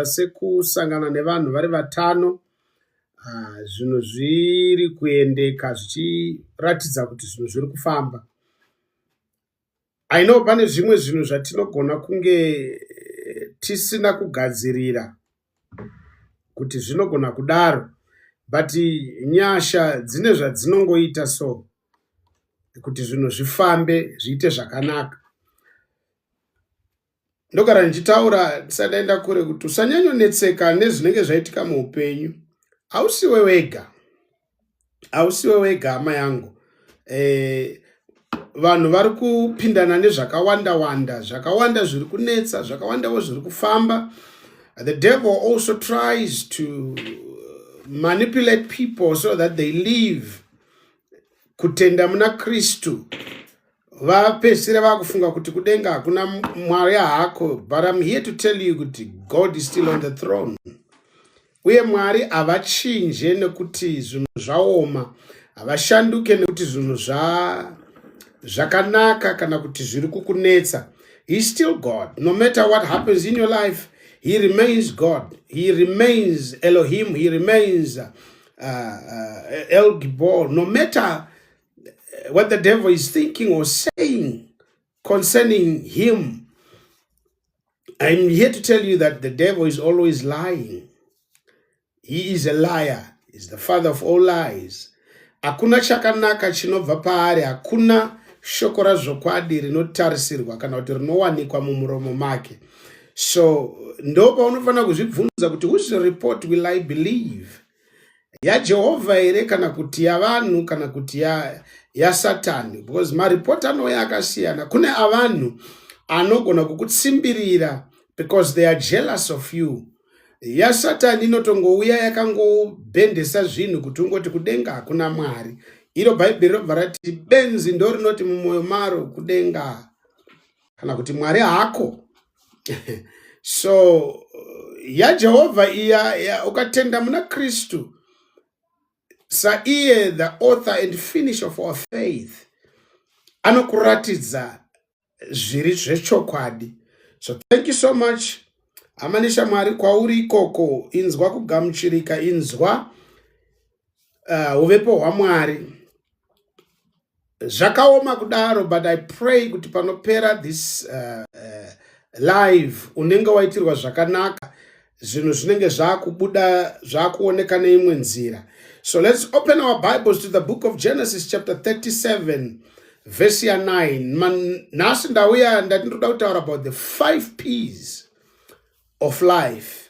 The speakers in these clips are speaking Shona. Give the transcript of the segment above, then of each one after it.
sekusangana nevanhu vari vatano ah, zvinhu zviri kuendeka zvichiratidza kuti zvinhu zviri kufamba aino pane zvimwe zvinhu zvatinogona kunge eh, tisina kugadzirira kuti zvinogona kudaro but nyasha dzine zvadzinongoita so kuti zvinhu zvifambe zviite zvakanaka ndogara ndichitaura ndisati ndaenda kure kuti usanyanyonetseka nezvinenge zvaitika muupenyu hausiwe wega hausiwe wega hama yangu eh, vanhu vari kupindana nezvakawanda wanda zvakawanda zviri kunetsa zvakawandawo zviri kufamba the devil also tries to manipulate people so that they live kutenda muna kristu vapedzisira vakufunga kuti kudenga hakuna mwari hako but im here to tell you kuti god is still on the throne uye mwari havachinje nekuti zvinhu zvaoma havashanduke nekuti zvinhu zvakanaka kana kuti zviri kukunetsa he still god no matter what happens in your life he remains god he remains elohim he remains uh, uh, el gibor no matter eh, what the devil is thinking or saying concerning him. I'm here to tell you that the devil is always lying. He is a liar. He's the father of all lies. Hakuna chakanaka chinobva paari, hakuna shoko razvokwadi rinotarisirwa kana kuti rinowanikwa mumuromo make. So ndo paunofanira kuzvibvunza kuti whose report will I believe? yajehovha here kana kuti yavanhu kana kuti yasatani ya because maripoti anouya akasiyana kune avanhu anogona kukutsimbirira because they are jealous of you yasatani inotongouya yakangobhendesa zvinhu kuti ungoti kudenga hakuna mwari iro bhaibheri robva rati benzi ndo rinoti mumwoyo maro kudenga kana kuti mwari hako so yajehovha iya ya, ukatenda muna kristu saiye the author and finish of our faith anokuratidza zviri zvechokwadi so thank you so much hama neshamwari kwauri ikoko inzwa kugamuchirika inzwa uh, uvepo hwamwari zvakaoma kudaro but i pray kuti panopera this uh, uh, live unenge waitirwa zvakanaka zvinhu zvinenge zvakubuda zvakuoneka neimwe nzira so let's open our bibles to the book of genesis chapter 37 vhesi ya 9 nhasi ndauya ndati ndoda kutaura about the five peas of life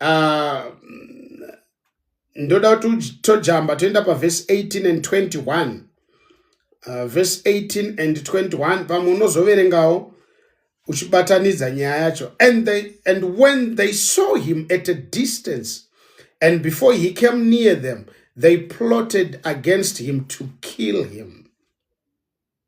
Ah, ndoda kuti tojamba toenda pavhesi 18 and 21 ah, vhesi 18 and 21 pamwe unozoverengawo uchibatanidza nyaya yacho and, they, and when they saw him at a distance and before he came near them they plotted against him to kill him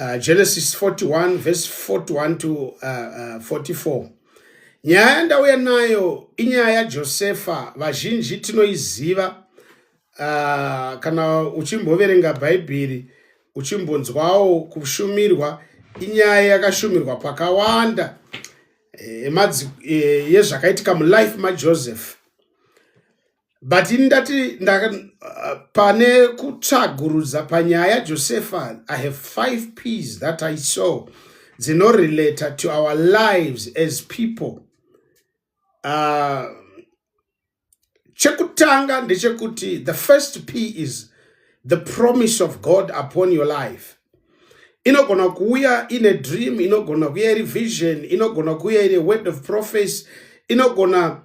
uh, genesis 41 verse 41 to uh, uh, 44 nyaya yandauya nayo inyaya yajosefa vazhinji tinoiziva uh, kana uchimboverenga bhaibheri uchimbonzwawo kushumirwa inyaya yakashumirwa pakawanda eh, eh, yezvakaitika mulife majoseph but ini ndati uh, pane kutsvagurudza panyaya yajosefa i have five ps that i saw dzinorelata to our lives as people uh, chekutanga ndechekuti the first p is the promise of god upon your life inogona kuuya ine dream inogona kuuya iri vision inogona kuuya iri word of prophecy inogona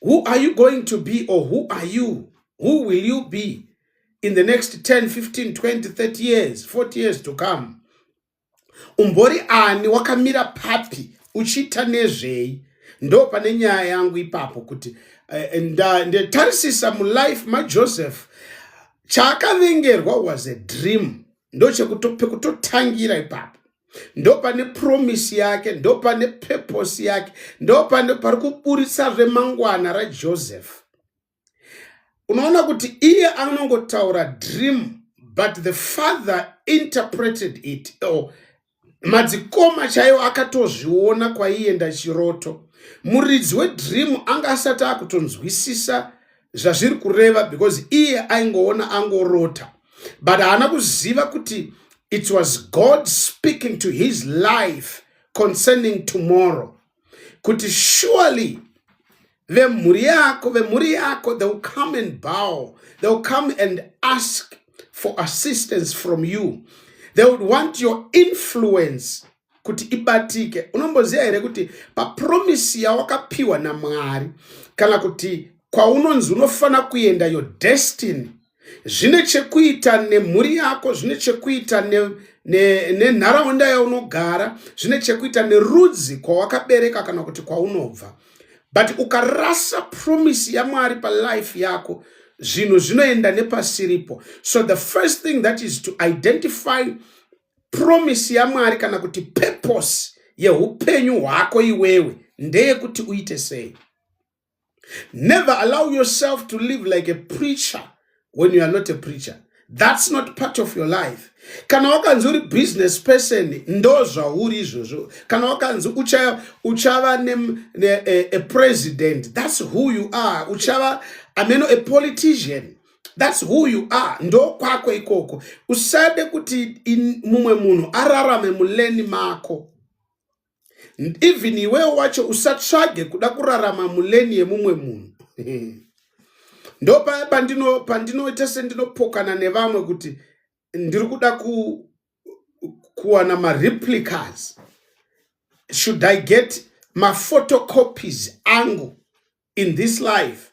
Who are you going to be or who are you? Who will you be in the next 10, 15, 20, 30 years, 40 years to come? Umbori ani wakamira papi uchiita nezvei? Ndo pane nyaya yangu ipapo kuti eh, ndatarisisa mulife maJoseph chaakavengerwa was a dream ndo pekutotangira ipapo ndopane promise yake ndopane purpose yake ndopane pari kuburitsa zvemangwana rajoseph unoona kuti iye anongotaura dream but the father interpreted it oh, madzikoma chaiwo akatozviona kwaienda chiroto muridzi wedream anga asati akutonzwisisa zvazviri kureva because iye aingoona angorota but haana kuziva kuti it was god speaking to his life concerning tomorrow kuti surely vemhuri yako vemhuri yako they will come and bow they will come and ask for assistance from you they would want your influence kuti ibatike unomboziva here kuti papromisi yawakapiwa namwari kana kuti kwaunonzi unofanira kuenda your destiny zvine chekuita nemhuri yako zvine chekuita nenharaunda ne, ne yaunogara zvine chekuita nerudzi kwawakabereka kana kuti kwaunobva but ukarasa promisi yamwari palife yako zvinhu zvinoenda nepasiripo so the first thing that is to identify Promise yaMwari kana kuti purpose yeupenyu hwako iwewe ndeyekuti uite sei? Never allow yourself to live like a preacher when you are not a preacher. That's not part of your life. Kana wakanzi uri business person ndozvauri izvozvo. Kana wakanzi uchava, uchava ne, ne, a, a president that's who you are. Uchava ameno a politician. thats who you are ndokwako ikoko usade kuti mumwe munhu ararame muleni mako even iwewo wacho usatsvage kuda kurarama muleni yemumwe munhu ndo paya pandino pandinoita sendinopokana nevamwe kuti ndiri kuda ku kuwana mareplicas should i get maphotocopies angu in this life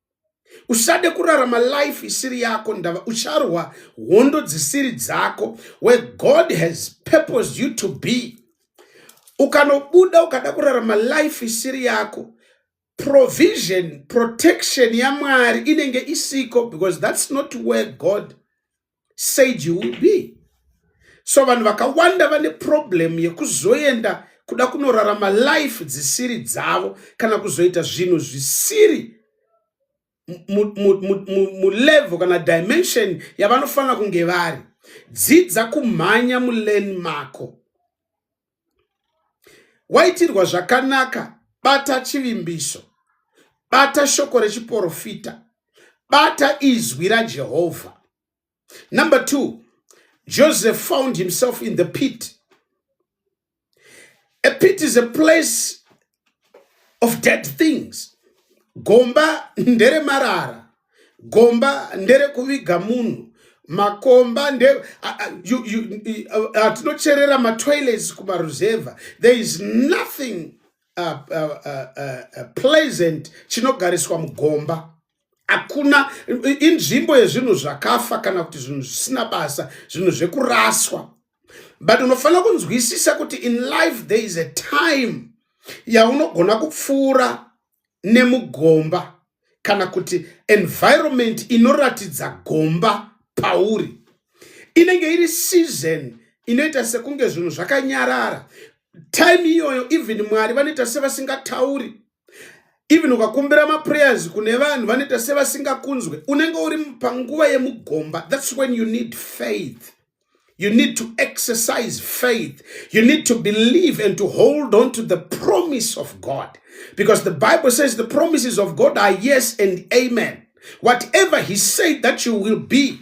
usade kurarama life isiri yako ndava ucharwa hondo dzisiri dzako where god has purposed you to be ukanobuda ukada kurarama life isiri yako provision protection yamwari inenge isiko because that's not where god said you will be so vanhu vakawanda vane problem yekuzoenda kuda kunorarama life dzisiri dzavo kana kuzoita zvinhu zvisiri mulevel kana dimension yavanofanira kunge vari dzidza kumhanya mulane mako waitirwa zvakanaka bata chivimbiso bata shoko rechiporofita bata izwi rajehovha number two joseph found himself in the pit a pit is a place of dead things gomba ndere marara gomba ndere kuviga munhu makomba nde hatinocherera uh, uh, uh, matoilets kumaruzevha there is nothing uh, uh, uh, uh, pleasant chinogariswa mugomba hakuna inzvimbo yezvinhu zvakafa kana kuti zvinhu zvisina basa zvinhu zvekuraswa but unofanira kunzwisisa kuti in life there is a time yaunogona kupfuura nemugomba kana kuti environment inoratidza gomba pauri inenge iri season inoita sekunge zvinhu zvakanyarara time iyoyo even mwari vanoita sevasingatauri even ukakumbira maprayers kune vanhu vanoita sevasingakunzwe unenge uri panguva yemugomba thats when you need faith you need to exercise faith you need to believe and to hold on to the promise of god because the bible says the promises of god are yes and amen whatever he said that you will be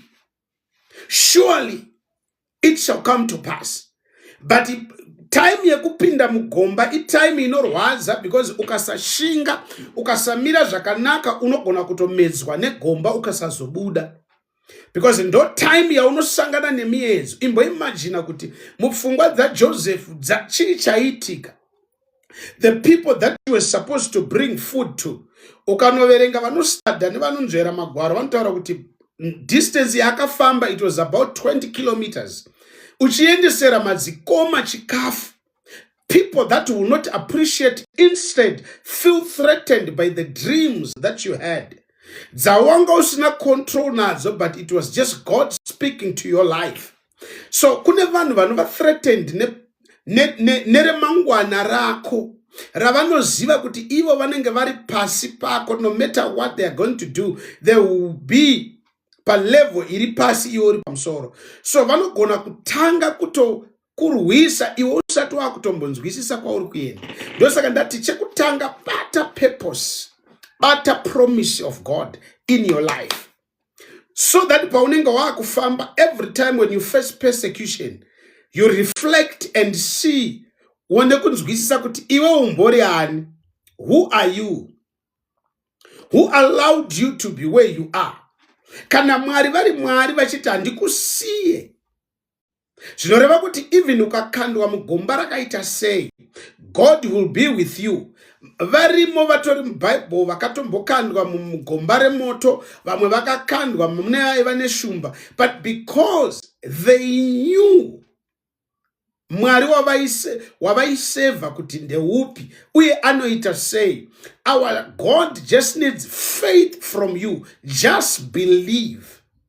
surely it shall come to pass but time yekupinda mugomba itime inorwadza because ukasashinga ukasamira zvakanaka unogona kutomedzwa negomba ukasazobuda because ndo time yaunosangana nemiyedzo imboimajina kuti mupfungwa dzajosefu chii chaiitika the people that you were supposed to bring food to ukanoverenga vanostada nevanonzvera magwaro vanotaura kuti distance yaakafamba it was about 20 kilometers uchiendesera madzikoma chikafu people that will not appreciate instead feel threatened by the dreams that you had dzawanga usina control nadzo but it was just god speaking to your life so kune vanhu vanova threatened neremangwana ne, ne, ne rako ravanoziva kuti ivo vanenge vari pasi pako no matter what they are going to do they will be palevel iri pasi iwe uri pamusoro so vanogona kutanga kutokurwisa iwe usati wakutombonzwisisa kwauri kuenda ndosaka ndati chekutanga bata purpose bata promise of god in your life so that paunenge waakufamba every time when you face persecution you reflect and see uone kunzwisisa kuti iwe umbori ani who are you who allowed you to be where you are kana mwari vari mwari vachiti handikusiye zvinoreva kuti even ukakandwa mugomba rakaita sei god will be with you varimo vatori mubhaibheri vakatombokandwa mugomba remoto vamwe vakakandwa mune aiva neshumba but because they knew mwari wavaiseva kuti ndeupi uye anoita sei our god just needs faith from you just believe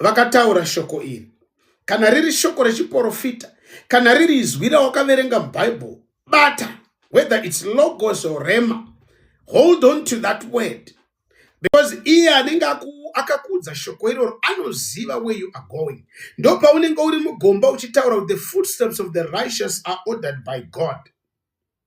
vakataura shoko iri kana riri shoko rechiporofita kana riri izwi rawakaverenga mubhaibheri bata whether its logos or rema hold on to that word because iye anenge akakuudza shoko iroro anoziva where you are going ndo paunenge uri mugomba uchitaura the footsteps of the righteous are ordered by god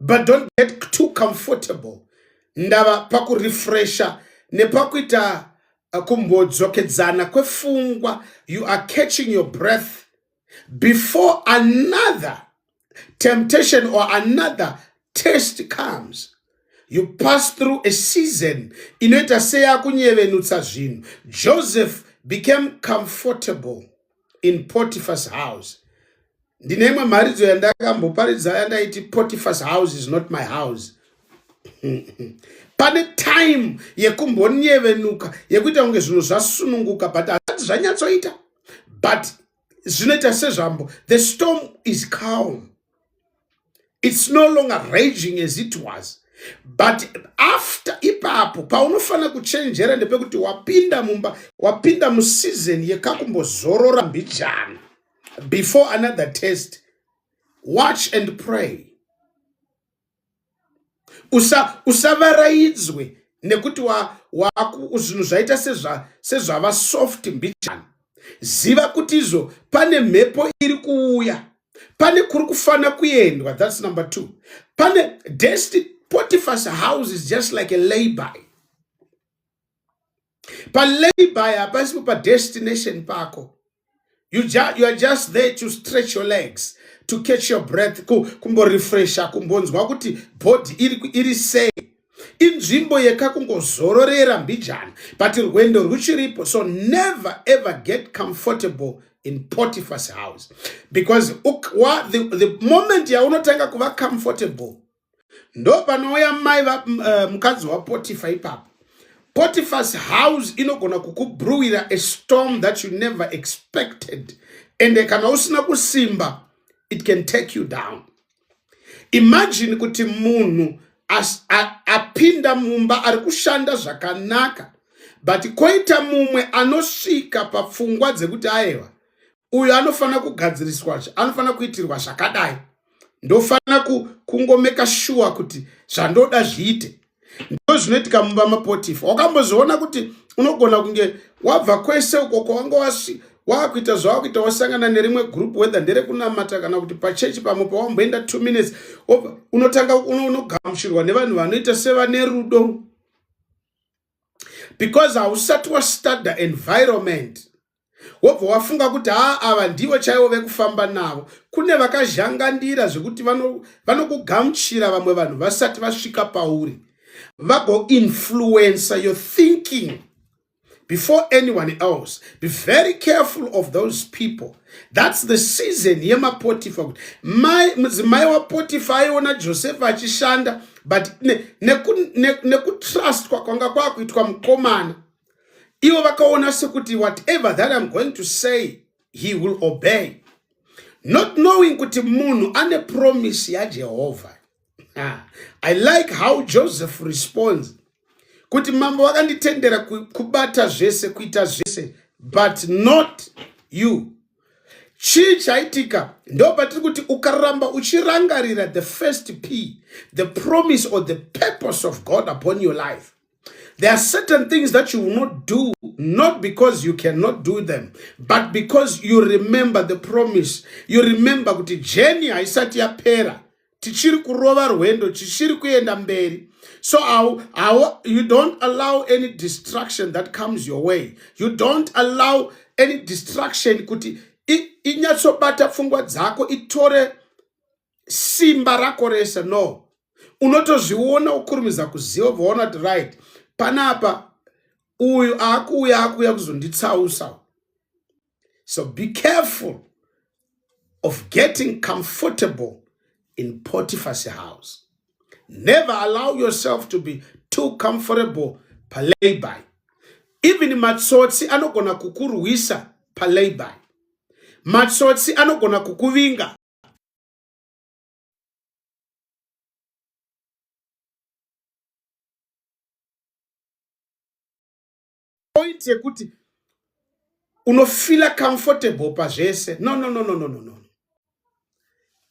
but don't get too comfortable ndava pakurefresha nepakuita uh, kumbodzokedzana kwefungwa you are catching your breath before another temptation or another test comes you pass through a season inoita seyakunyevenutsa zvinhu joseph became comfortable in potiphas house ndine imwe mharidzo yandakamboparidza yandaiti potiphas house is not my house pane time yekumbonyevenuka yekuita kunge zvinhu zvasununguka but hazati zvanyatsoita but zvinoita sezvambo the storm is calm it's no longer raging as it was but after ipapo paunofanira kuchenjera ndepekuti wapinda mumba wapinda museason yekakumbozorora mbijana before another test watch and pray usa usavaraidzwe nekuti wa waku zvinhu zvaita sezva sezvava soft mbichana ziva kuti izvo pane mhepo iri kuuya pane kuri kufanira kuendwa that's number two pane desti potifas house is just like a layby Palabor hapasi pa destination pako. You, ju you are just there to stretch your legs to catch your breath kumborefresha kumbonzwa kuti body iri, iri sei inzvimbo yekakungozororera mbijana but rwendo rwuchiripo so never ever get comfortable in potiphas house because uk, wa, the, the moment yaunotanga kuva comfortable ndopanouya mai uh, mukadzi wapotifa ipapo potifas house inogona kukubruwira a storm that you never expected ende kana usina kusimba it can take you down imagine kuti munhu apinda mumba ari kushanda zvakanaka but koita mumwe anosvika papfungwa dzekuti ayewa uyu anofanira kugadziriswa anofanira kuitirwa zvakadai ndofanira kungomeka shuwa kuti zvandoda zviite ndo zvinoitika mumba mapotifa wakambozviona kuti unogona kunge wabva kwese uko kwawanga wasi wakuita zvawakuita wasangana nerimwe group whether nderekunamata kana kuti pachechi pamwe pawamboenda two minutes unotanga unogamuchirwa nevanhu vanoita sevane rudo because hausati wastudya environment wobva wafunga kuti haa ava ndivo chaivo vekufamba navo kune vakazhangandira zvekuti vanokugamuchira vano vamwe vanhu vasati vasvika pauri vagoinfluencer your thinking before anyone else be very careful of those people thats the season yemapotifa kuti mudzimai wapotifa aiona josefa achishanda but nekutrustwa ne, ne kwanga kwakuitwa mukomana ivo vakaona sekuti whatever that i'm going to say he will obey not knowing kuti munhu ane promise yajehovha ah, i like how joseph responds kuti mambo vakanditendera kubata zvese kuita zvese but not you chii chaitika ndo patiri kuti ukaramba uchirangarira the first p the promise or the purpose of god upon your life There are certain things that you will not do, not because you cannot do them, but because you remember the promise. You remember kuti journey haisati yapera. Tichiri kurova rwendo, tichiri kuenda mberi. So our, our, you don't allow any distraction that comes your way. You don't allow any distraction kuti inyatsobata pfungwa dzako itore simba rako rese no unotozviona ukurumidza kuziva vaona kuti right panapa uyu akuuya akuuya kuzonditsausa so be careful of getting comfortable in potiphas house never allow yourself to be too comfortable palayby even matsotsi anogona kukurwisa palayby matsotsi anogona kukuvinga point yekuti unofila comfortable pazvese no no no no no no no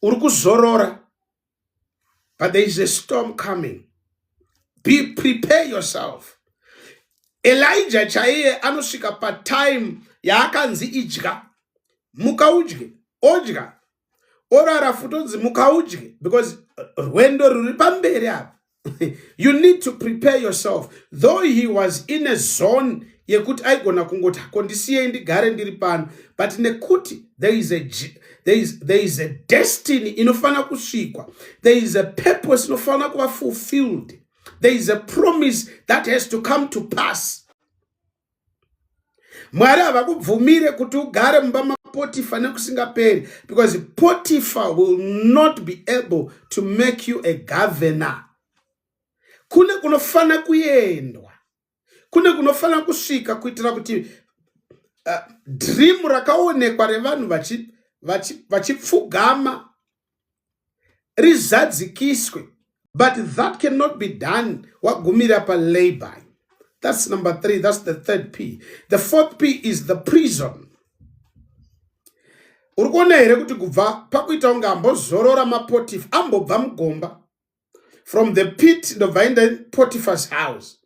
uri kuzorora but there is a storm coming be prepare yourself elija chaiye anosvika patime yaakanzi idya muka udye odya orara futi onzi muka udye because rwendo rwuri pamberi apa you need to prepare yourself though he was in a zone yekuti aigona kungoti hako ndisiyei ndigare ndiri pano but nekuti there is a, there is, there is a destiny inofanira kusvikwa there is a purpose inofanira kuva fulfilled there is a promise that has to come to pass mwari havakubvumire kuti ugare mumba mapotifa nekusingaperi because potifa will not be able to make you a governor kune kunofanira kuendwa kune kunofanira kusvika kuitira kuti uh, dream rakaonekwa revanhu vachipfugama vachi, vachi rizadzikiswe but that cannot be done wagumira palabour that's number three that's the third p the fourth p is the prison uri kuona here kuti kubva pakuita kunge ambozorora mapotifu ambobva mugomba from the pit ndobva aenda potiphars house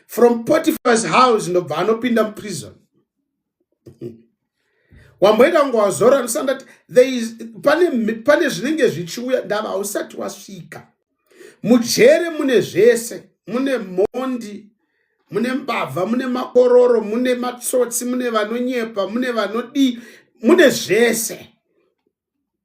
from potiphars house ndobva anopinda muprison wamboenda kunge wazora ndisandati pane zvinenge zvichiuya ndava hausati wasvika mujere mune zvese mune mhondi mune mbavha mune makororo mune matsotsi mune vanonyepa mune vanodii mune zvese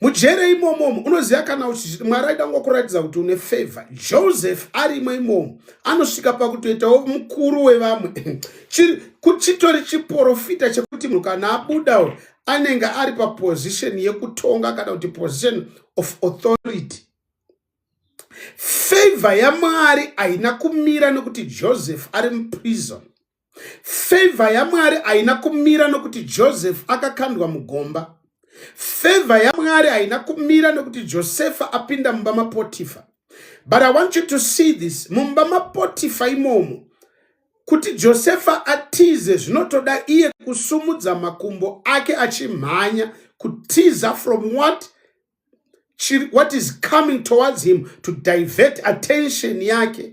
mujere imomomo unoziva kana uchiti mwari aida kungo kuratidza kuti une favor joseph arimo imomo anosvika pakutoitawo mukuru wevamwe chitori chiporofita chekuti munhu kana abuda anenge ari paposition yekutonga kana kuti position of authority favor yamwari haina kumira nekuti joseph ari muprison Favor yaMwari haina kumira nokuti Joseph akakandwa mugomba. Favor yaMwari haina kumira nokuti Josefa apinda mumba maPotifa. But I want you to see this. Mumba maPotifa imomo kuti Josefa atize zvinotoda iye kusumudza makumbo ake achimhanya kutiza from what what is coming towards him to divert attention yake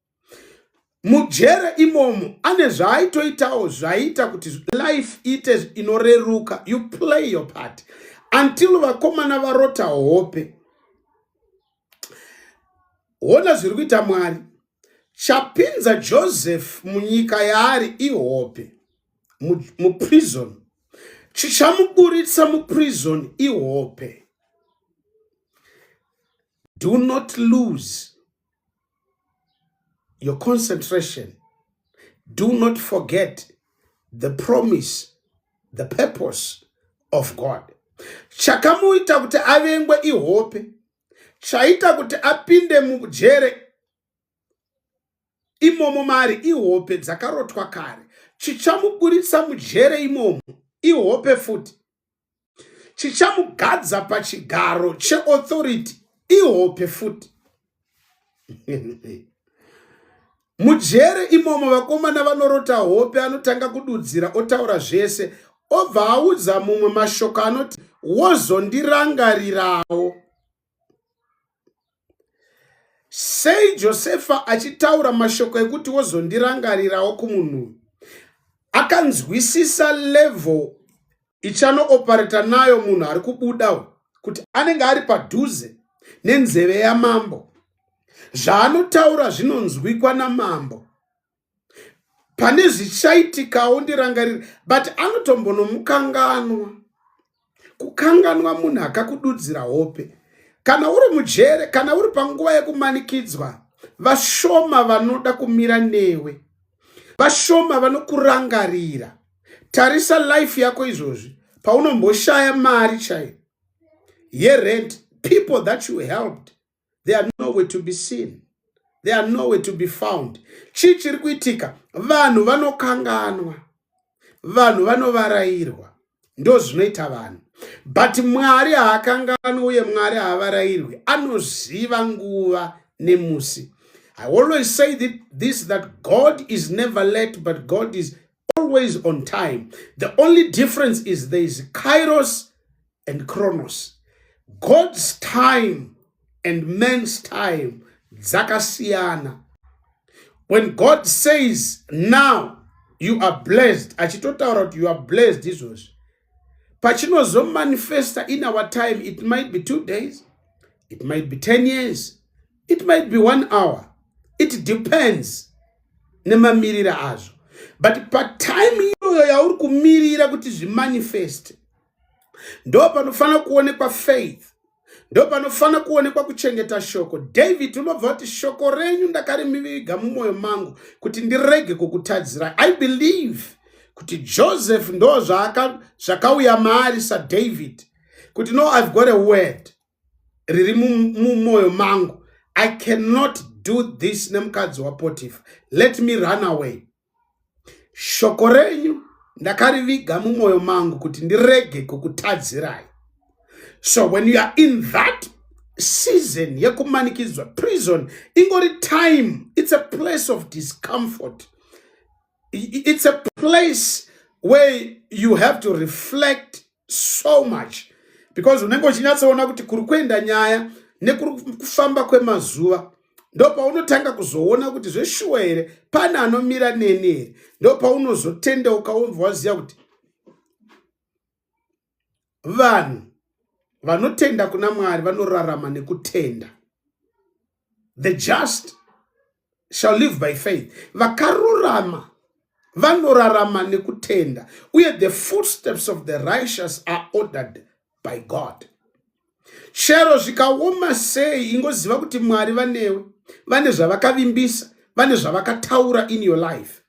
mujere imomo ane zvaaitoitawo zvaiita kuti life ite inoreruka you play your part until vakomana varota hope hona zviri kuita mwari chapinza joseph munyika yaari ihope muprison mu chichamuburitsa muprison ihope do not lose your concentration do not forget the promise the purpose of god chakamuita kuti avengwe ihope chaita kuti apinde mujere imomo mari ihope dzakarotwa kare chichamuburitsa mujere imomo ihope futi chichamugadza pachigaro cheauthority ihope futi mujere imomo vakomana vanorota hope anotanga kududzira otaura zvese obva audza mumwe mashoko anoti wozondirangarirawo sei josefa achitaura mashoko ekuti wozondirangarirawo kumunhu akanzwisisa level ichanoopareta nayo munhu ari kubuda kuti anenge ari padhuze nenzeve yamambo zvaanotaura zvinonzwikwa namambo pane zvichaitikawo ndirangarira but anotombonomukanganwa kukanganwa munhu akakududzira hope kana uri mujere kana uri panguva yekumanikidzwa vashoma vanoda kumira newe vashoma vanokurangarira tarisa life yako izvozvi paunomboshaya mari chaiyo yerent people that you helped they are nowhere to be seen they are nowhere to be found chii chiri kuitika vanhu vanokanganwa vanhu vanovarairwa ndo zvinoita vanhu but mwari haakanganwi uye mwari haavarairwi anoziva nguva nemusi i always say this that god is never late but god is always on time the only difference is there is kairos and chronos god's time and man's time dzakasiyana when god says now you are blessed achitotaura kuti you are blessed izvozvi pachinozomanifesta in our time it might be two days it might be 10 years it might be one hour it depends nemamirira azvo but patime iyoyo yauri kumirira kuti zvimanifeste ndo panofanira kuonekwa faith ndo panofanira kuonekwa kuchengeta shoko david unobva kuti shoko renyu ndakarimiviga mumwoyo mangu kuti ndirege kukutadzirai i believe kuti joseph ndo zvakauya maari sadavid kuti no i've got a word riri mumwoyo mangu i cannot do this nemukadzi wapotifa let me run away Shoko renyu ndakariviga mumwoyo mangu kuti ndirege kukutadzirai. So when you are in that season yekumanikidzwa prison ingori time it's a place of discomfort it's a place where you have to reflect so much because unenge uchinyatsoona kuti kuri kuenda nyaya nekuri kufamba kwemazuva ndopaunotanga kuzoona kuti zveshuwa here pane anomira neni here ndopaunozotendeuka wonzwa waziva kuti vanhu vanotenda kuna mwari vanorarama nekutenda the just shall live by faith vakarurama vanorarama nekutenda uye the footsteps of the righteous are ordered by god chero zvikaoma sei ingoziva kuti mwari vanewe vane zvavakavimbisa vane zvavakataura in your life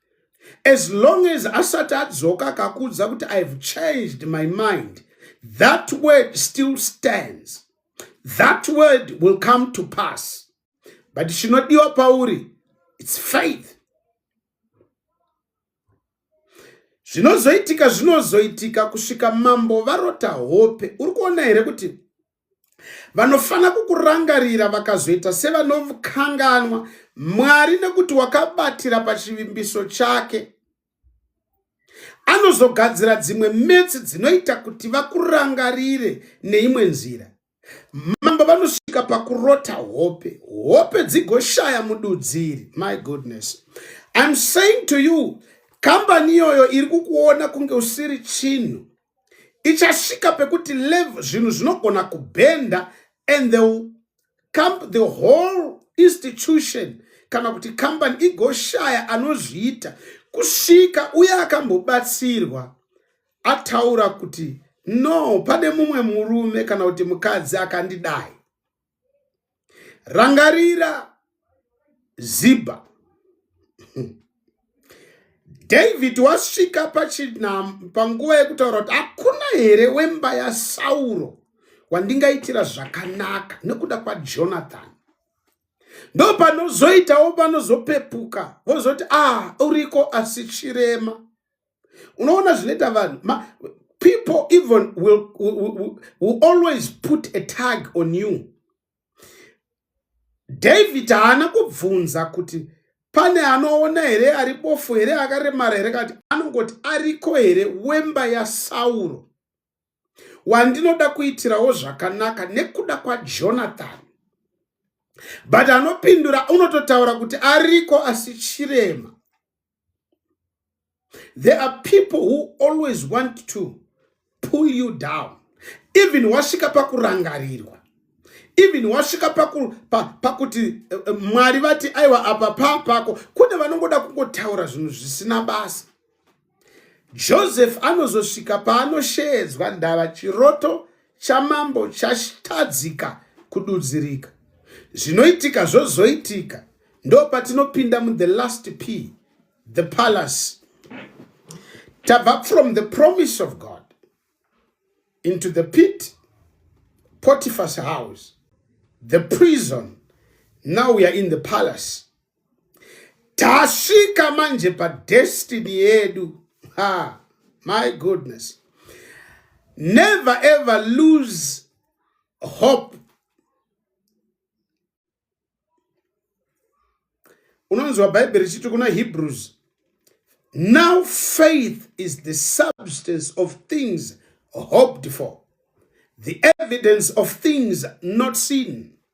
as long as asati adzoka akakuudza kuti i have changed my mind that word still stands that word will come to pass but chinodiwa pauri its faith zvinozoitika zvinozoitika kusvika mambo varota hope uri kuona here kuti vanofanira kukurangarira vakazoita sevanokanganwa mwari nekuti wakabatira pachivimbiso chake anozogadzira dzimwe metsi dzinoita kuti vakurangarire neimwe nzira mambo vanosvika pakurota hope hope dzigoshaya mududziri my goodness im saying to you kambani iyoyo iri kukuona kunge usiri chinhu ichasvika pekuti lev zvinhu zvinogona kubhenda and the, camp, the whole institution kana kuti kambani igoshaya anozviita kusvika uye akambobatsirwa ataura kuti no pane mumwe murume kana kuti mukadzi akandidai rangarira ziba david wasvika panguva yekutaura kuti hakuna here wemba yasauro wandingaitira zvakanaka nekuda kwajonathan ndo panozoitawo panozopepuka vozoti ah uriko asi chirema unoona zvinoita vanhu people even will, will, will, will always put a tag on you david haana kubvunza kuti pane anoona here ari bofu here akaremara here kati anongoti ariko here wemba yasauro wandinoda kuitirawo zvakanaka nekuda kwajonathan but anopindura unototaura kuti ariko asi chirema there are people who always want to pull you down even wasvika pakurangarirwa even wasvika pakuti pa, pa eh, eh, mwari vati aiwa apa paa pako kune vanongoda kungotaura zvinhu zvisina basa Joseph anozosvika paanosheedzwa ndava chiroto chamambo chatadzika kududzirika. Zvinoitika zvozoitika ndo patinopinda mu the last p the palace tabva from the promise of God into the pit Potiphar's house the prison now we are in the palace tasvika manje padestiny yedu ha my goodness never ever lose hope unonzwa bhaibheri chiti kuna hebrews now faith is the substance of things hoped for the evidence of things not seen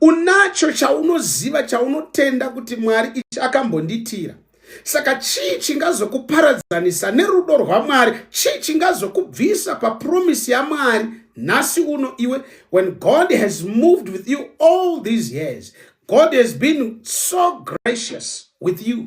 unacho chaunoziva chaunotenda kuti mwari ichi akambondiitira saka chii chingazokuparadzanisa nerudo rwamwari chii chingazokubvisa papromisi yamwari nhasi uno iwe when god has moved with you all these years god has been so gracious with you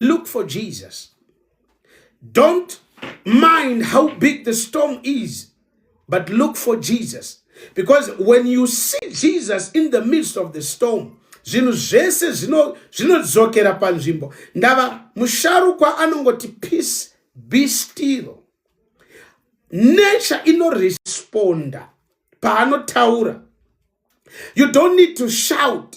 look for Jesus. Don't mind how big the storm is, but look for Jesus. Because when you see Jesus in the midst of the storm, zvinhu zvese zvinodzokera panzvimbo ndava musharukwa anongoti peace be still nature inoresponda paanotaura you don't need to shout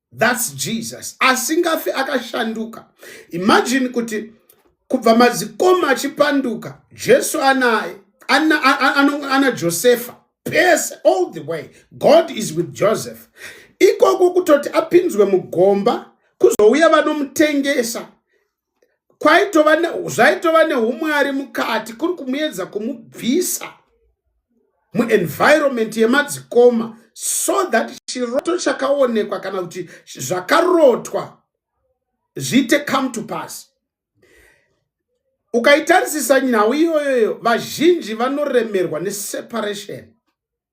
thats jesus asingafi akashanduka imagine kuti kubva madzikoma achipanduka jesu anaye ana, ana, ana, ana josefa pese all the way god is with joseph ikoko kutoti apinzwe mugomba kuzouya vanomutengesa kwaitova zvaitova neumwari mukati kuri kumuedza kumubvisa muenvironment yemadzikoma so that chiroto chakaonekwa kana kuti zvakarotwa zviite come to pass ukaitarisisa nhau iyoyoyo vazhinji vanoremerwa neseparation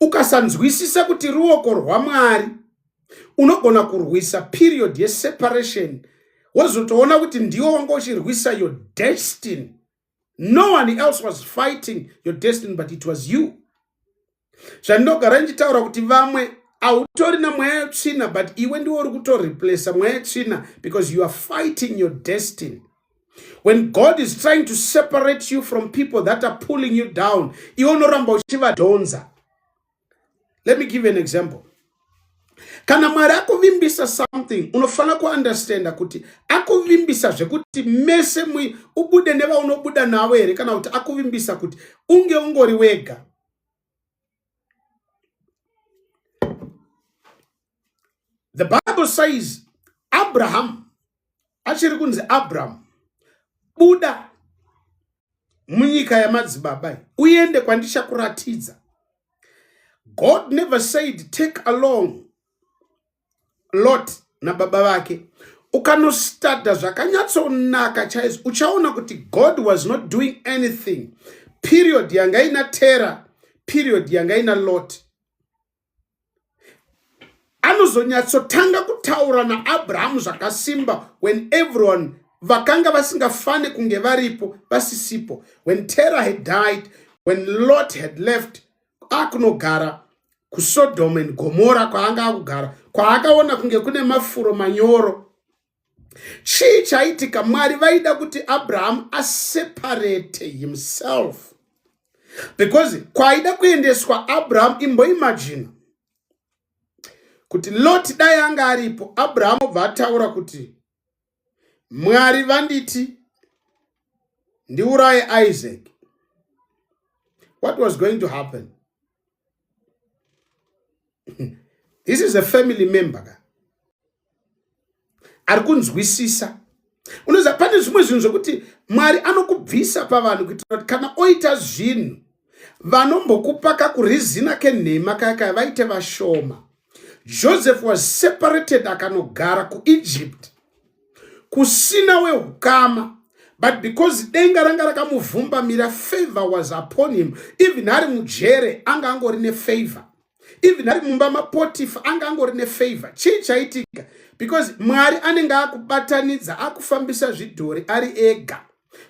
ukasanzwisisa kuti ruoko rwamwari unogona kurwisa period yeseparation wozotoona kuti ndiwo wanga uchirwisa your destiny no one else was fighting your destiny but it was you zvandinogara ndichitaura kuti vamwe hautori na mweya yetsvina but iwe ndiwo uri kutoreplace mweya yetsvina because you are fighting your destiny When God is trying to separate you from people that are pulling you down, iwe unoramba uchivadhonza. Let me give you an example. Kana Mwari akuvimbisa something, unofanira kuunderstanda kuti akuvimbisa zvekuti mese mwi ubude nevaunobuda navo here kana kuti akuvimbisa kuti unge ungori wega. The Bible says Abraham achiri kunzi Abraham buda munyika yamadzibaba uende kwandichakuratidza God never said take along lot nababa vake ukanostada zvakanyatsonaka chaizvo uchaona kuti god was not doing anything period yanga ina terror period yanga ina lot anozonyatsotanga kutaura naabrahamu zvakasimba when everyone vakanga vasingafane kunge varipo vasisipo when terror had died when lot had left akunogara kusodom and gomora kwaanga akugara kwaakaona kunge kune mafuro manyoro chii chaitika mwari vaida kuti abrahamu aseparate himself because kwaida kuendeswa abrahamu imboimajina kuti loti dai anga aripo abrahamu obva ataura kuti mwari vanditi ndiuraye isaac what was going to happen this is a family member ka ari kunzwisisa unoziva pane zvimwe zvinhu zvekuti mwari anokubvisa pavanhu kuitira kuti kana oita zvinhu vanombokupa kakurizina kenhema kaya kaya vaite vashoma Joseph was separated akanogara kuEgypt kusina wehukama but because denga ranga rakamuvhumbamira favor was upon him even ari mujere anga angori nefavor even ari mumba mapotifa anga angori nefavor chii chaitika because mwari anenge akubatanidza akufambisa zvidhori ari ega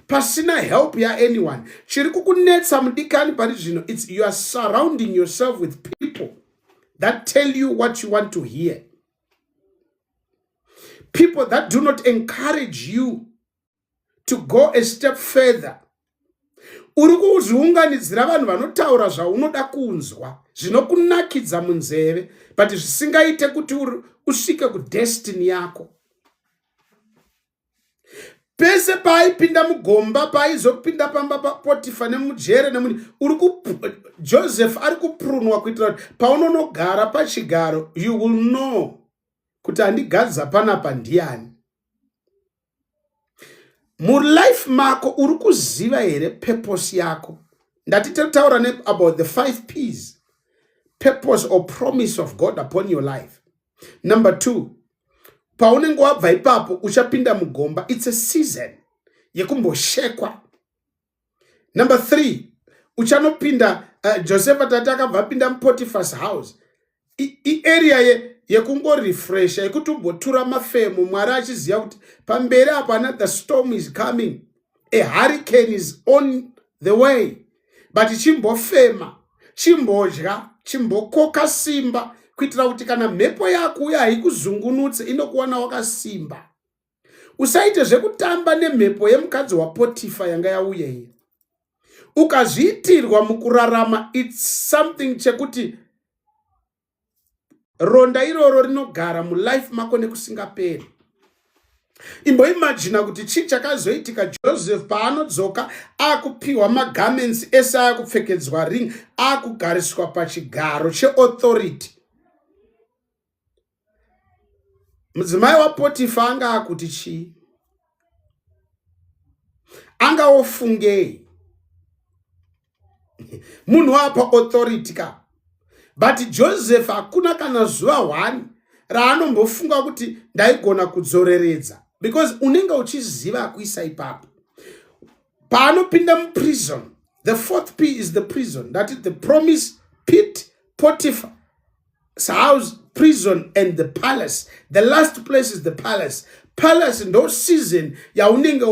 pasina help yaanyone chiri kukunetsa mudikani pari zvino its youare surrounding yourself with people that tell you what you want to hear. People that do not encourage you to go a step further. Uri kuzviunganidzira vanhu vanotaura zvaunoda kunzwa zvinokunakidza munzeve but zvisingaite kuti usvike kudestiny yako. pese paaipinda mugomba paaizopinda pamba papotifa nemujere nemuni uri joseph ari kupurunwa kuitira kuti paunonogara pachigaro you will know kuti handigadza panapa ndiani mulife mako uri kuziva here purpose yako ndati tataura ne about the five ps purpose or promise of god upon your life number two paunenge wabva ipapo uchapinda mugomba its a season yekumboshekwa number three uchanopinda uh, josepha tati akabva apinda mupotifas house iarea ye yekungorefresha yekuti umbotura mafemo mwari achiziva kuti pamberi apo another storm is coming a hurricane is on the way but chimbofema chimbodya chimbokoka simba kuitira kuti kana mhepo yako uye haikuzungunutse inokuwana wakasimba usaite zvekutamba nemhepo yemukadzi wapotifa yanga yauya iyi ukazviitirwa mukurarama its something chekuti ronda iroro rinogara mulife mako nekusingaperi imboimajina kuti chii chakazoitika joseph paanodzoka akupiwa magarments ese ayakupfekedzwa ring akugariswa pachigaro cheauthority mudzimai wapotifa anga akuti chii anga ofungei munhu wapa authority ka but joseph hakuna kana zuva hwani raanombofunga kuti ndaigona kudzoreredza because unenge uchiziva akuisa ipapo paanopinda muprison the fourth p is the prison that is the promise pit potiphar house prison and the palace the last place is the palace palace ndo season yaunenge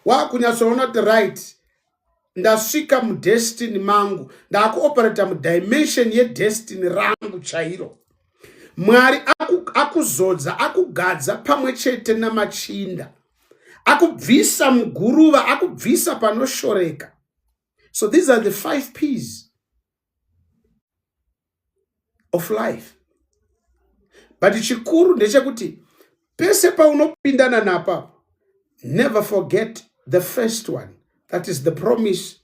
wakunyatsoona kuti right ndasvika mudestiny mangu ndakuoperata mudimension yedestiny rangu chairo mwari akuzodza akugadza pamwe chete namachinda akubvisa muguruva akubvisa panoshoreka so these are the five peas of life but chikuru ndechekuti pese paunopindana napa never forget the first one that is the promise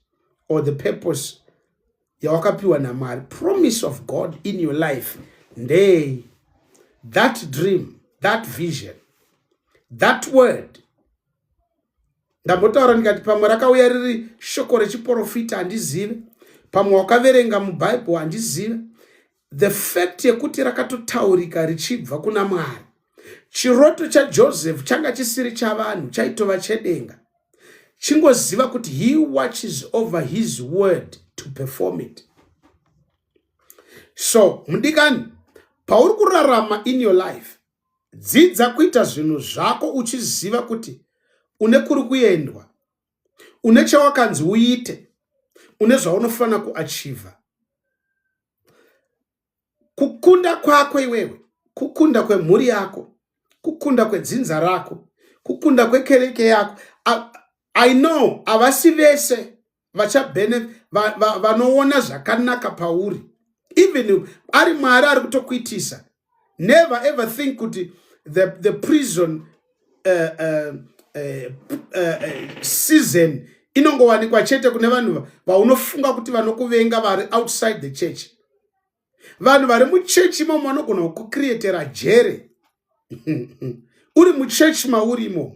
or the purpose yawakapiwa namwari promise of god in your life ndei that dream that vision that word ndambotaura ndikati pamwe rakauya riri shoko rechiprofita handizive pamwe wakaverenga mubhaibheri handizive the fact yekuti rakatotaurika richibva kuna mwari chiroto chajoseph changa chisiri chavanhu chaitova chedenga chingoziva kuti he watches over his word to perform it so mudikani pauri kurarama in your life Dzidza kuita zvinhu zvako uchiziva kuti une kuri kuendwa, une chawakanzi uite, une zvaunofanira kuachiva. Kukunda kwako iwewe, kukunda kwemhuri yako, kukunda kwedzinza rako, kukunda kwekereke yako. I know havasi vese vachabene vanoona zvakanaka pauri even ari mwari ari kutokuitisa never ever think kuti the, the prison uh, uh, uh, uh, season inongowanikwa chete kune vanhu vaunofunga kuti vanokuvenga vari outside the church vanhu vari muchechi imomo vanogona kukucreatera jere uri muchechi mauri imomo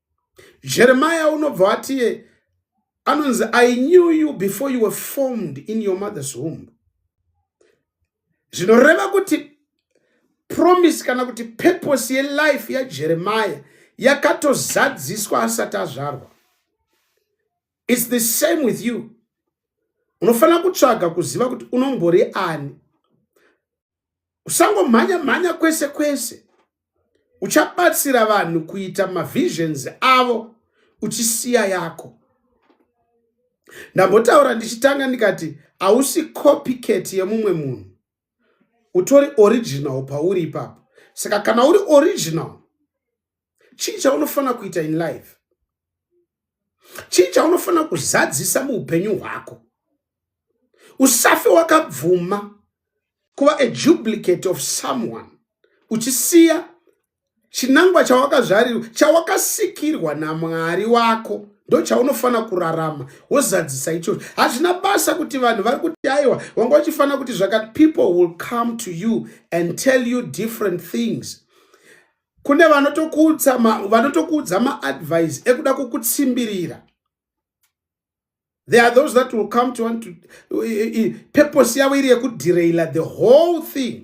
jeremaya unobva watiye anonzi i knew you before you were formed in your mother's womb zvinoreva kuti promise kana kuti purpose yelife yajeremaya yakatozadziswa asati azvarwa its the same with you unofanira kutsvaga kuziva kuti unombori ani usangomhanya mhanya kwese kwese uchabatsira vanhu kuita mavisions avo uchisiya yako ndambotaura ndichitanga ndikati hausi copycat yemumwe munhu utori original pauri ipapo saka kana uri original chii chaunofanira kuita in life chii chaunofanira kuzadzisa muupenyu hwako usafe wakabvuma kuva a duplicate of someone uchisiya chinangwa chawakazvarirwa chawakasikirwa namwari wako ndo chaunofanira kurarama wozadzisa ichocho hazvina basa kuti vanhu vari kuti aiwa wanga wachifanira kuti zvakati people will come to you and tell you different things kune vanotokuudza vanotokuudza maadvise ekuda kukutsimbirira there are those that will come to want to purpose yavo iri yekuderaila the whole thing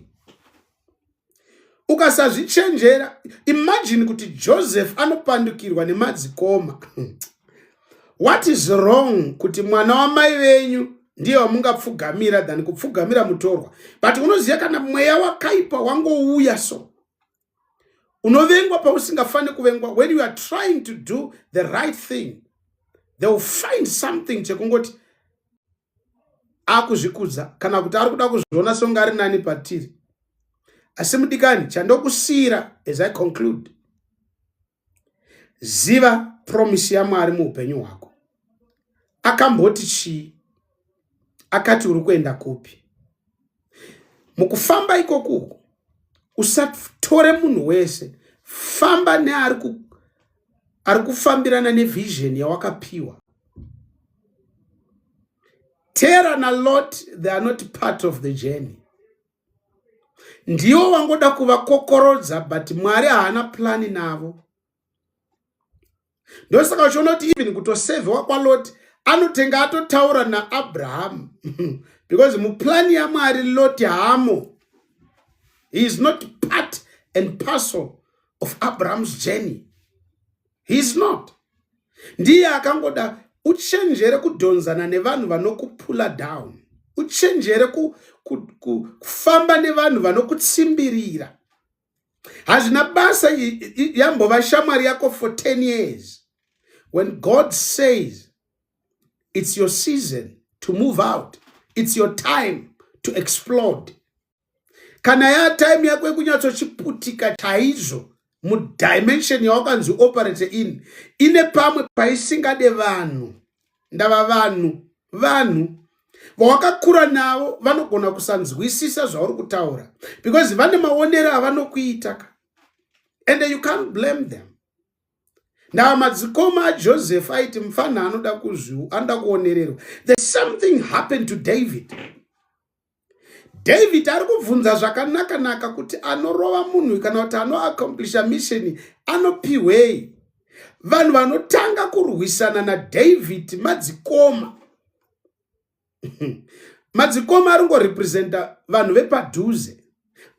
ukasazvichenjera imagine kuti joseph anopandukirwa nemadzikoma what is wrong kuti mwana wamai venyu ndiye wamungapfugamira than kupfugamira mutorwa but unoziva kana mweya wakaipa wangouya so unovengwa pausingafani kuvengwa when you are trying to do the right thing they will find something chekungoti akuzvikudza kana kuti ari kuda kuzviona songa ari nani patiri asi mudikani chandokusiyira as i conclude ziva promise yamwari muupenyu hwako akamboti chii akati uri kuenda kupi mukufamba ikoku uku usatore munhu wese famba neari ku, ari kufambirana nevision yawakapiwa tera nalot they are not part of the journey ndiwo wangoda kuvakokorodza but mwari haana plani navo ndosaka uchiona kuti even kutosevhewa kwaloti anotenga atotaura naabrahamu because muplani yamwari loti hamo he is not part and parcel of abraham's journey he is not ndiye akangoda uchenjere kudhonzana nevanhu vanokupula down uchenjere kufamba ku, ku, nevanhu vanokutsimbirira hazvina basa yambova shamwari yako for 10 years when god says it's your season to move out it's your time to explode kana ya time yako yekunyatsochiputika chaizvo mudimension yawakanzi operate in ine pamwe paisingade vanhu ndava vanhu vanhu vawakakura navo vanogona kusanzwisisa zvauri kutaura because vane maonero avanokuita ka and you can't blame them ndava madzikoma ajoseph aiti mfanha anoda kuzviu anoda kuonererwa there's something happened to david david ari kubvunza zvakanaka naka kuti anorova munhu kana kuti anoaccomplisha misheni anopihwei vanhu vanotanga kurwisana nadavid madzikoma madzikoma ari ngorepresenta vanhu vepadhuze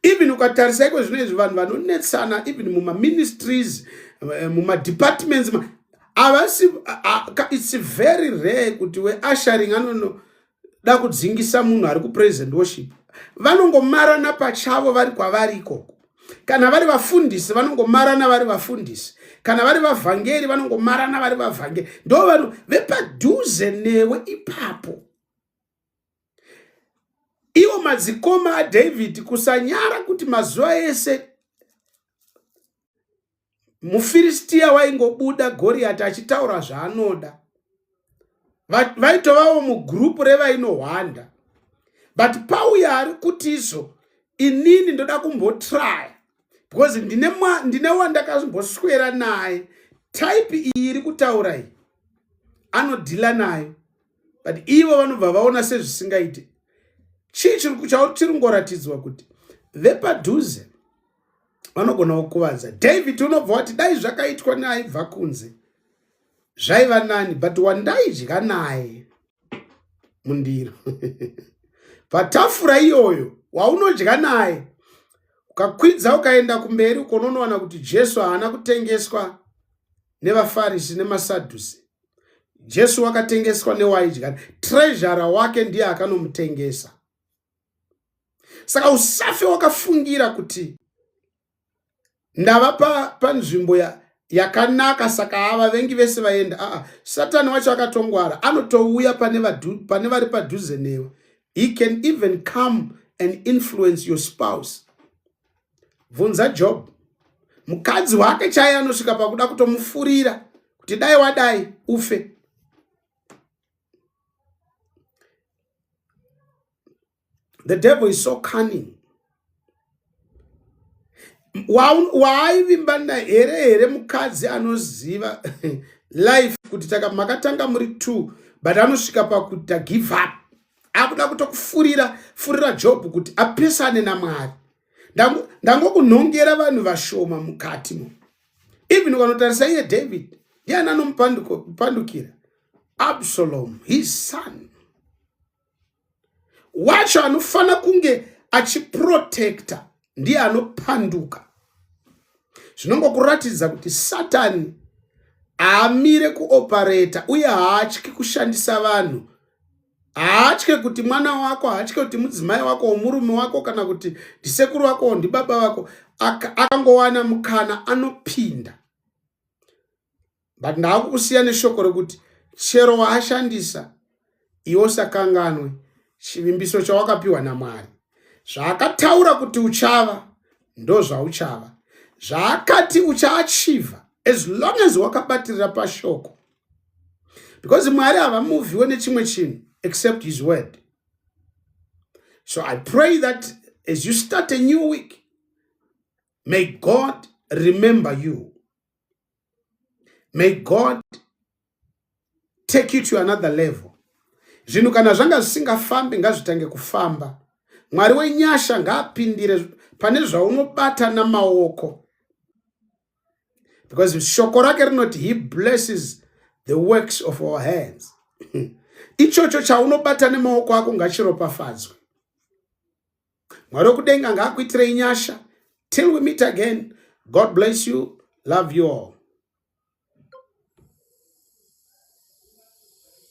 even ukatarisa iko zvino izvi vanhu vanonetsana even mumaministries eh, mumadepartments avasi its very rare kuti weasharing anono da kudzingisa munhu ari kupraise and worship vanongomarana pachavo vari kwavari ikoko kana vari vafundisi vanongomarana vari vafundisi kana vari vavhangeri vanongomarana vari vavhangeri ndo vanhu vepadhuze newe ipapo iwo madzikoma adhavhidhi kusanyara kuti mazuva ese mufiristiya waingobuda goriyati achitaura zvaanoda vaitovawo mugrupu revainohwanda but pauya ari kuti izvo inini ndoda kumbotraya because ndine, ndine wandakazomboswera naye type iyi iri kutaura iyi anodhila nayo but ivo vanobva vaona sezvisingaite chii chiri kungoratidzwa kuti vepadhuze vanogona kukuvadza david unobva wati dai zvakaitwa neaibva kunze zvaiva nani but wandaidya naye mundiro patafura iyoyo waunodya naye ukakwidza ukaenda kumberi ukononowana kuti jesu haana kutengeswa nevafarisi nemasadhusi jesu wakatengeswa newaidya trezhara wake ndiye akanomutengesa saka usafe wakafungira kuti ndava panzvimbo pa yakanaka saka ava vengi vese vaenda aa satani wacho akatongwara anotouya pane, pane vari padhuze newe he can even come and influence your spouse bvunza job mukadzi wake chaiye anosvika pakuda kutomufurira kuti dai wadai ufe the devil is so cunning waaivimba naye here here mukadzi anoziva life kuti taka makatanga muri two but anosvika pakuti give up akuda kutokufurira furira job kuti apesane namwari ndangokunhongera vanhu vashoma mukati mo even ukanotarisa iye david ndiani anomupandukira absalom his son wacho anofanira kunge achiprotecta ndiye anopanduka zvinongokuratidza kuti satani haamire kuopareta uye haatyi kushandisa vanhu haatye kuti mwana wako haatye kuti mudzimai wako womurume wako kana kuti ndisekuru wako ndibaba vako akangowana mukana anopinda but ndaakukusiya neshoko rekuti chero waashandisa iwe usakanganwe chivimbiso chawakapiwa namwari zvaakataura kuti uchava ndozvauchava zvaakati uchaachiva as long as wakabatirira pashoko because mwari havamuvhiwe nechimwe chinhu except his word so i pray that as you start a new week may god remember you may god take you to another level zvinhu kana zvanga zvisingafambi ngazvitange kufamba mwari wenyasha ngaapindire pane zvaunobata namaoko because shoko rake rinoti he blesses the works of our hands ichocho chaunobata nemaoko ako ngachiropafadzwe mwari wekudenga ngaakuitirei nyasha till we meet again god bless you love you all